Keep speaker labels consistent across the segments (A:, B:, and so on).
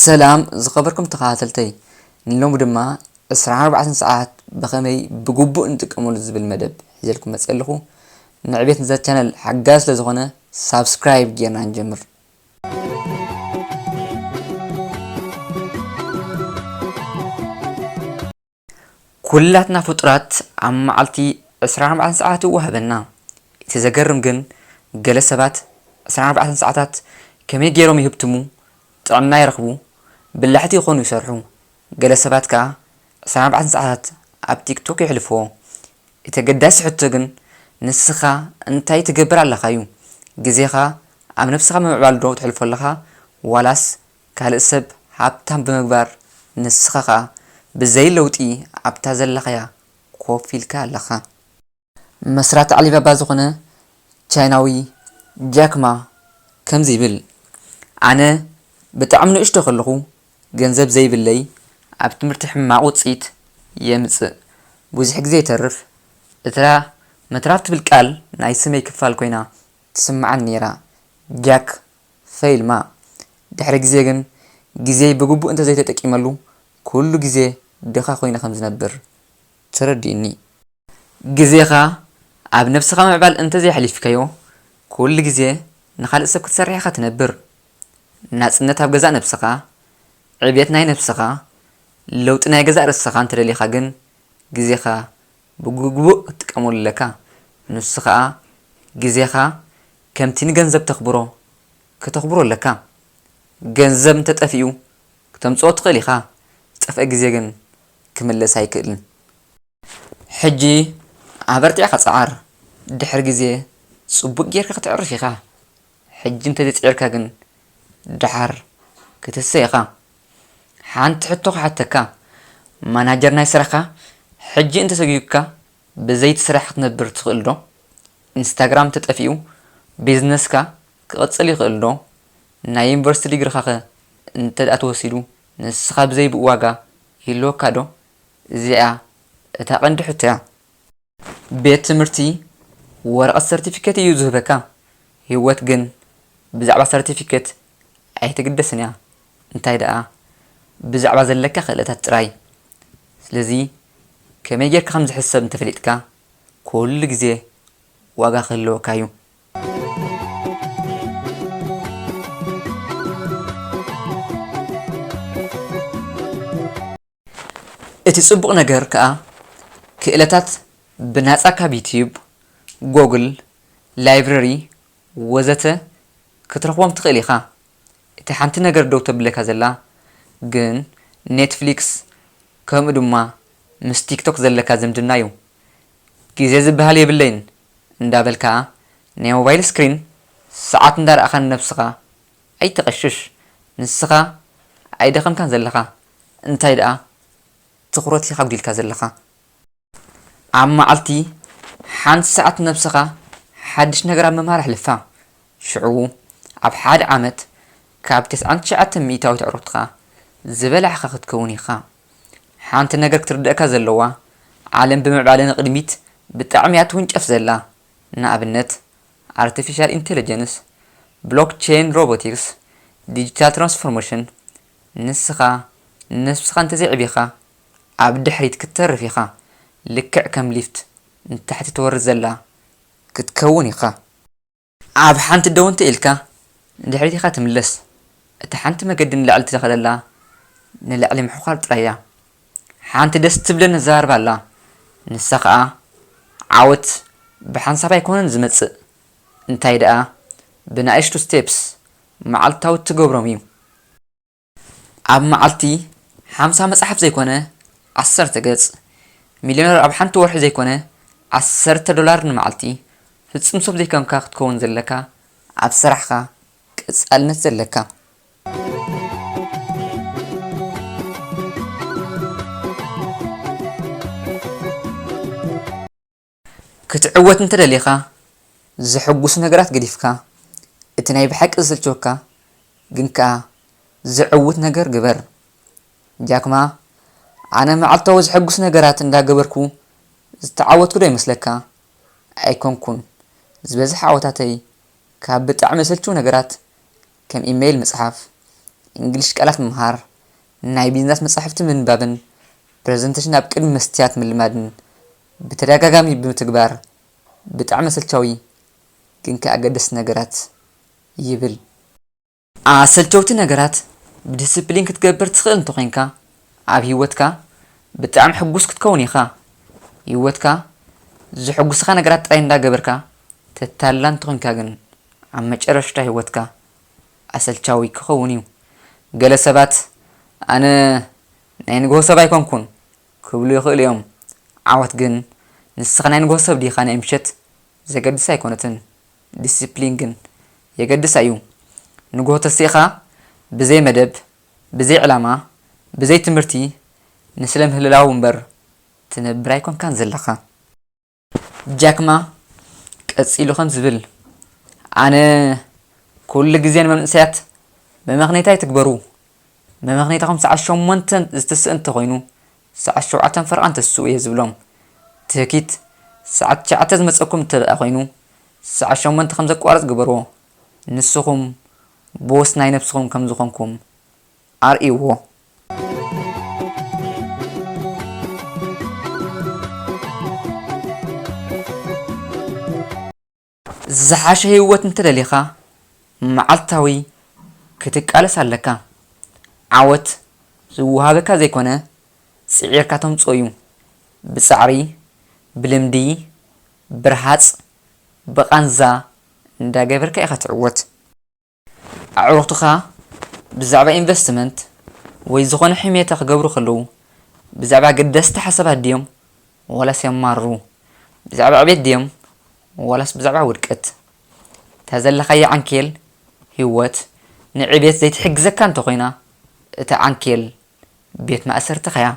A: ሰላም ዝኸበርኩም ተኸታተልተይ ንሎሚ ድማ 24 ሰዓት ብኸመይ ብግቡእ ንጥቀመሉ ዝብል መደብ ሒዘልኩም መፅእ ኣለኹ ንዕቤት ንዛ ቻነል ሓጋዚ ስለ ዝኾነ ሳብስክራይብ ጌርና ንጀምር ኩላትና ፍጡራት ኣብ መዓልቲ ዕስራን ኣርባዕተን ሰዓታት ይወሃበና። እቲ ዘገርም ግን ገለ ሰባት ዕስራን ኣርባዕተን ሰዓታት ከመይ ገይሮም ይህብትሙ፣ ጥዕና ይረኽቡ፣ በላሕቲ ይኾኑ ይሰርሑ፣ ገለ ሰባት ከኣ ዕስራን ኣርባዕተን ሰዓታት ኣብ ቲክቶክ የሕልፍዎ። እቲ ኣገዳሲ ሕቶ ግን ንስኻ እንታይ ትገብር ኣለኻ ዩ። ግዜኻ ኣብ ነብስኻ ብምምዕባል ዶ ተሕልፎ ኣለኻ ዋላስ ካልእ ሰብ ሃብታም ብምግባር ንስኻ ከኣ ብዘይ ለውጢ ኣብታ ዘለኻያ ኮፍ ኢልካ ኣለኻ። መስራቲ ዓሊባባ ዝዀነ ቻይናዊ ጃክ ማ ከምዚ ይብል፣ ኣነ ብጣዕሚ ንእሽቶ ከለኹ ገንዘብ ዘይብለይ ኣብ ትምህርቲ ሕማቕ ውጽኢት የምጽእ። ብዙሕ ግዜ ይተርፍ፣ እታ ምትራፍ ትብል ቃል ናይ ስመይ ክፋል ኰይና ትስምዓኒ ነይራ። ጃክ ፈይል ማ ድሕሪ ግዜ ግን ግዜይ ብግቡእ እንተ ዘይተጠቂመሉ ኵሉ ግዜ ድኻ ኰይነ ከም ዝነብር ተረዲኡኒ። ግዜኻ ኣብ ነብስኻ ምዕባል እንተዘይኣሕሊፍካዮ ኩሉ ግዜ ንኻልእ ሰብ ክትሰርሕ ኢኻ ትነብር። ናጽነት ኣብ ገዛእ ነብስኻ፣ ዕብየት ናይ ነብስኻ፣ ለውጢ ናይ ገዛእ ርእስኻ እንተደሊኻ ግን ግዜኻ ብግቡእ ክትጥቀመሉ ኣለካ። ንሱ ከኣ ግዜኻ ከምቲ ንገንዘብ ተኽብሮ ከተኽብሮ ኣለካ። ገንዘብ እንተጠፊኡ ክተምጽኦ ትኽእል ኢኻ ዝጠፍኣ ግዜ ግን ክምለስ ኣይክእልን። ሕጂ ኣበርቲዕካ ጽዓር ድሕሪ ግዜ ጽቡቅ ጌርካ ከተዕርፍ ኢካ ሕጂ እንተዘይጺዒርካ ግን ድሓር ክትህሰ ኢካ ሓንቲ ሕቶ ክሓተካ ማናጀር ናይ ስራሕካ ሕጂ እንተሰጉግካ ብዘይቲ ስራሕ ክትነብር ትክእል ዶ ኢንስታግራም እንተጠፊኡ ቢዝነስካ ክቅጽል ይክእል ዶ ናይ ዩኒቨርስቲ ዲግርካ ከ እንተ ተወሲዱ ንስካ ብዘይ ብኡ ዋጋ ይህልወካ ዶ እዚኣ እታ ቀንዲ ሕቶ እያ። ቤት ትምህርቲ ወረቐት ሰርቲፊኬት እዩ ዝህበካ፣ ህይወት ግን ብዛዕባ ሰርቲፊኬት ኣይትግደስን እያ፣ እንታይ ደኣ ብዛዕባ ዘለካ ክእለታት ጥራይ። ስለዚ ከመይ ጌርካ ከም ዝሕሰብ እንተፈሊጥካ ኩሉ ግዜ ዋጋ ክህልወካ እዩ። እቲ ጽቡቕ ነገር ከኣ ክእለታት ብናጻ ካብ ዩትዩብ፣ ጎግል፣ ላይብረሪ ወዘተ ክትረኽቦም ትኽእል ኢኻ። እቲ ሓንቲ ነገር ደው ተብለካ ዘላ ግን ኔትፍሊክስ ከምኡ ድማ ምስ ቲክቶክ ዘለካ ዝምድና'ዩ። ግዜ ዝበሃል የብለይን እንዳበልካ ናይ ሞባይል ስክሪን ሰዓት እንዳረኣኻ ንነብስኻ ኣይተቐሽሽ ንስኻ ኣይደኸምካን ዘለኻ። እንታይ ደኣ ትኹረት ኢኻ ኣጒዲልካ ዘለኻ። ኣብ መዓልቲ ሓንቲ ሰዓት ነብስኻ ሓድሽ ነገር ኣብ ምምሃር ኣሕልፋ። ሽዑ ኣብ ሓደ ዓመት ካብ ተስዓን ትሽዓተን ሚእታዊት ኣዕሩኽትኻ ዝበላዕካ ክትከውን ኢኻ። ሓንቲ ነገር ክትርደኣካ ዘለዋ፣ ዓለም ብምዕባለ ንቕድሚት ብጣዕሚ እያ ትውንጨፍ ዘላ። ንኣብነት ኣርተፊሻል ኢንተለጀንስ፣ ብሎክቸይን፣ ሮቦቲክስ፣ ዲጂታል ትራንስፎርመሽን፣ ንስኻ ንነብስኻ እንተዘይዕቢኻ ኣብ ድሕሪት ክትተርፍ ኢኻ ልክዕ ከም ሊፍት ንታሕቲ ትወርድ ዘላ ክትከውን ኢኻ። ኣብ ሓንቲ ደው እንተኢልካ ንድሕሪት ኢኻ ትምለስ እታ ሓንቲ መገዲ ንላዕሊ ትኸደላ ንላዕሊ ምሕዃር ጥራይ እያ። ሓንቲ ደስ ትብለን ኣዘራርባ ኣላ ንሳ ኸኣ ዓወት ብሓንሳብ ኣይኮነን ዝመጽእ እንታይ ደኣ ብናእሽቱ ስቴፕስ መዓልታዊ እትገብሮም እዩ። ኣብ መዓልቲ ሓምሳ መጽሓፍ ዘይኮነ ዓሰርተ ገጽ፣ ሚልዮነር ኣብ ሓንቲ ወርሒ ዘይኮነ ዓሰርተ ዶላር ንመዓልቲ፣ ፍጹም ሰብ ዘይኮንካ ክትከውን ዘለካ ኣብ ስራሕካ ቀጻልነት ዘለካ። ክትዕወት እንተ ደሊኻ፣ ዘሐጕሱ ነገራት ገዲፍካ፣ እቲ ናይ ብሓቂ ዘሰልችወካ ግን ከኣ ዘዕውት ነገር ግበር። ጃክ ማ፣ ኣነ መዓልታዊ ዘሐጕሱ ነገራት እንዳ ገበርኩ ዝተዓወትኩ'ዶ ይመስለካ? ኣይኰንኩን። ዝበዝሐ ዓወታተይ ካብ ብጣዕሚ ዘሰልችዉ ነገራት ከም ኢመይል ምጽሓፍ፣ እንግሊሽ ቃላት ምምሃር፣ ናይ ቢዝነስ መጻሕፍቲ ምንባብን ፕረዘንተሽን ኣብ ቅድሚ መስትያት ምልማድን ብተደጋጋሚ ብምትግባር ብጣዕሚ ኣሰልቻዊ ግን ከኣ ኣገደስቲ ነገራት ይብል። ኣሰልቸውቲ ነገራት ብድስፕሊን ክትገብር ትኽእል እንተኾይንካ ኣብ ህይወትካ ብጣዕሚ ሕጉስ ክትከውን ኢኻ። ህይወትካ ዘሕጉስኻ ነገራት ጥራይ እንዳገበርካ ተታልላ እንተኾይንካ ግን ኣብ መጨረሽታ ህይወትካ ኣሰልቻዊ ክኸውን'ዩ። ገለ ሰባት ኣነ ናይ ንግሆ ሰብ ኣይኮንኩን! ክብሉ ይኽእሉ እዮም። ዓወት ግን ንስኻ ናይ ንግሆ ሰብ ዲኻ ናይ ምሸት ዘገድስ ኣይኮነትን። ዲሲፕሊን ግን የገድስ ኣዩ። ንግሆ ተሲእኻ ብዘይ መደብ፣ ብዘይ ዕላማ፣ ብዘይ ትምህርቲ ንስለ ምህልላው እምበር ትነብር ኣይኮንካን ዘለኻ። ጃክማ ቀጺሉ ከም ዝብል፣ ኣነ ኩሉ ግዜ ንመንእሰያት መመኽነይታ ኣይትግበሩ፣ መመኽነይታኹም ሰዓት ሸሞንተ ዝትስእ እንተኾይኑ ሰዓት ሸውዓተን ፈረቓን ተስኡ እየ ዝብሎም። ትህኪት ሰዓት ትሽዓተ ዝመጸኩም እንተደኣ ኮይኑ ሰዓት ሸሞንተ ከም ዘቋርጽ ግበርዎ፣ ንስኹም ቦስ ናይ ነብስኹም ከም ዝኾንኩም። ኣርእይዎ። ዝሓሸ ህይወት እንተደሊኻ መዓልታዊ ክትቃለስ ኣለካ። ዓወት ዝወሃበካ ዘይኮነ ጽዒርካ ተምጽኦ እዩ። ብጻዕሪ፣ ብልምዲ፣ ብረሃጽ፣ ብቓንዛ እንዳገበርካ ኢኻ ትዕወት። ኣዕሩኽትኻ ብዛዕባ ኢንቨስትመንት ወይ ዝኾነ ሕሜታ ክገብሩ ከለዉ ብዛዕባ ኣገደስቲ ሓሳባት ድዮም ዋላስ የማርሩ? ብዛዕባ ዕቤት ድዮም ዋላስ ብዛዕባ ውድቀት? እታ ዘለኻያ ዓንኬል ህይወት ንዕቤት ዘይትሕግዘካ እንተኾይና እታ ዓንኬል ቤት ማእሰርትኻ'ያ።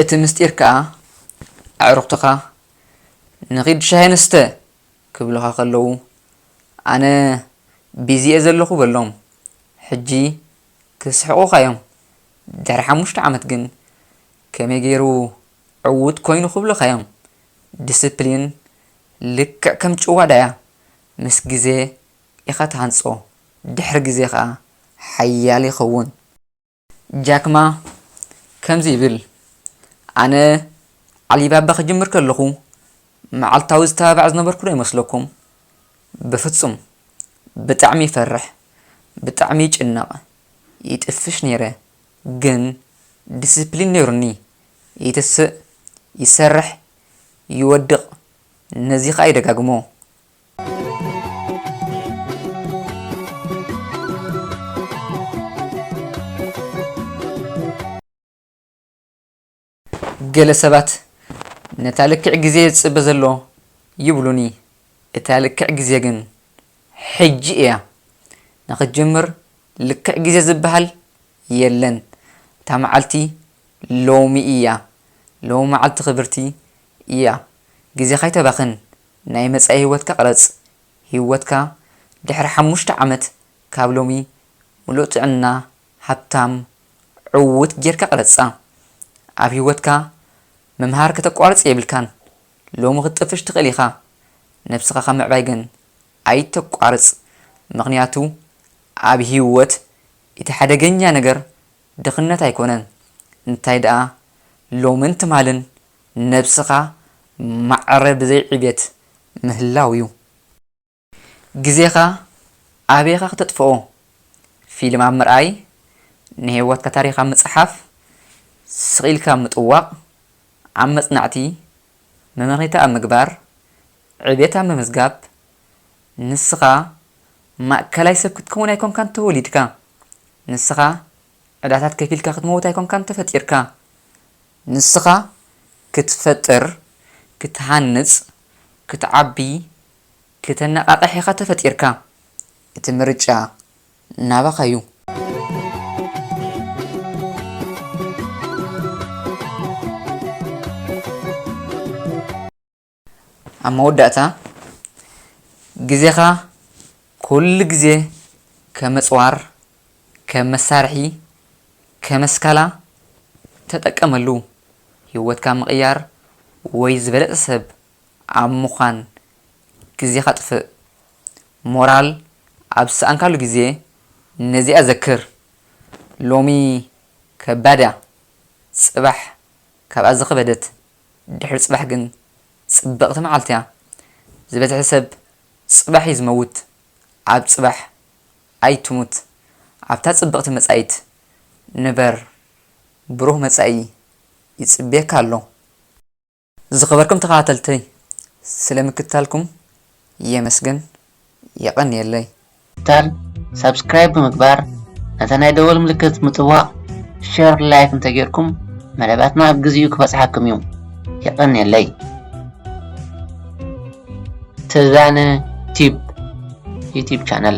A: እቲ ምስጢር ከኣ ኣዕሩኽትኻ ንኺድ ሻሂ ንስተ ክብሉኻ ከለዉ፣ ኣነ ቢዚ'የ ዘለኹ በሎም። ሕጂ ክስሕቑኻ'ዮም፣ ድሕሪ ሓሙሽተ ዓመት ግን ከመይ ገይሩ ዕዉት ኰይኑ ክብሉኻ'ዮም። ዲስፕሊን ልክዕ ከም ጭዋዳ'ያ፣ ምስ ግዜ ኢኻ ትሃንጾ፣ ድሕሪ ግዜ ኸኣ ሓያል ይኸውን። ጃክማ ከምዚ ይብል፣ ኣነ ዓሊባባ ክጅምር ከለኹ መዓልታዊ ዝተባባዕ ዝነበርኩ ዶ ይመስለኩም? በፍጹም! ብጣዕሚ ይፈርሕ፣ ብጣዕሚ ይጭነቕ፣ ይጥፍሽ ነይረ፣ ግን ዲሲፕሊን ነይሩኒ፣ ይትስእ፣ ይሰርሕ፣ ይወድቕ፣ ነዚ ከኣ ይደጋግሞ። ገለ ሰባት ነታ ልክዕ ግዜ ዝጽበ ዘሎ ይብሉኒ፣ እታ ልክዕ ግዜ ግን ሕጂ እያ። ንኽትጅምር ልክዕ ግዜ ዝበሃል የለን፣ እታ መዓልቲ ሎሚ እያ፣ ሎሚ መዓልቲ ክብርቲ እያ፣ ግዜኻ ኣይተባኽን፣ ናይ መጻኢ ህይወትካ ቅረጽ፣ ህይወትካ ድሕሪ ሓሙሽተ ዓመት ካብ ሎሚ ምሉእ ጥዕና፣ ሃብታም፣ ዕዉት ጌርካ ቅረጻ። ኣብ ህይወትካ ምምሃር ከተቋርጽ የብልካን፣ ሎሚ ክትጥፍሽ ትኽእል ኢኻ፣ ነብስኻ ካብ ምዕባይ ግን ኣይተቋርጽ፣ ምኽንያቱ ኣብ ህይወት እቲ ሓደገኛ ነገር ድኽነት ኣይኮነን፣ እንታይ ደኣ ሎምን ትማልን ንነብስኻ ማዕረ ብዘይ ዕቤት ምህላው ዩ። ግዜኻ ኣበይ ኢኻ ክተጥፍኦ? ፊልም ኣብ ምርኣይ፣ ንሂወትካ ታሪኽ ኣብ ምጽሓፍ፣ ስቕ ኢልካ ኣብ ምጥዋቕ፣ ኣብ መጽናዕቲ፣ መመኽኒታ ኣብ ምግባር፣ ዕቤት ኣብ ምምዝጋብ። ንስኻ ማእከላይ ሰብ ክትከውን ኣይኮንካን ተወሊድካ። ንስኻ ዕዳታት ከፊልካ ክትመውት ኣይኮንካን ተፈጢርካ። ንስኻ ክትፈጥር፣ ክትሃንጽ፣ ክትዓቢ፣ ክተነቓቕሕ ኢኻ ተፈጢርካ። እቲ ምርጫ ናባኻ'ዩ። ኣብ መወዳእታ፣ ግዜኻ ኩሉ ግዜ ከም ኣጽዋር፣ ከም መሳርሒ፣ ከም ኣስካላ ተጠቀመሉ። ህይወትካ ምቕያር ወይ ዝበለጸ ሰብ ኣብ ምዃን ግዜኻ ኣጥፍእ። ሞራል ኣብ ዝሰኣንካሉ ግዜ ነዚኣ ዘክር፣ ሎሚ ከባድ እያ፣ ጽባሕ ካብኣ ዝኸበደት። ድሕሪ ጽባሕ ግን ጽብቕቲ መዓልቲ'ያ። ዝበዝሐ ሰብ ጽባሕ'ዩ ዝመውት፣ ኣብ ጽባሕ ኣይትሙት፣ ኣብታ ጽብቕቲ መጻኢት ንበር፣ ብሩህ መጻኢ ይጽብየካ ኣሎ። ዝኸበርኩም ተኸታተልተይ ስለ ምክትታልኩም የመስግን። የቀንየለይ። ቻል
B: ሳብስክራይብ ብምግባር ነታ ናይ ደወል ምልክት ምጥዋቅ ሸር ላይክ እንተጌርኩም መደባትና ኣብ ግዚኡ ክበጽሓኩም እዩ የቀንየለይ። ተዛነ ቲዩብ ዩቲብ ቻነል።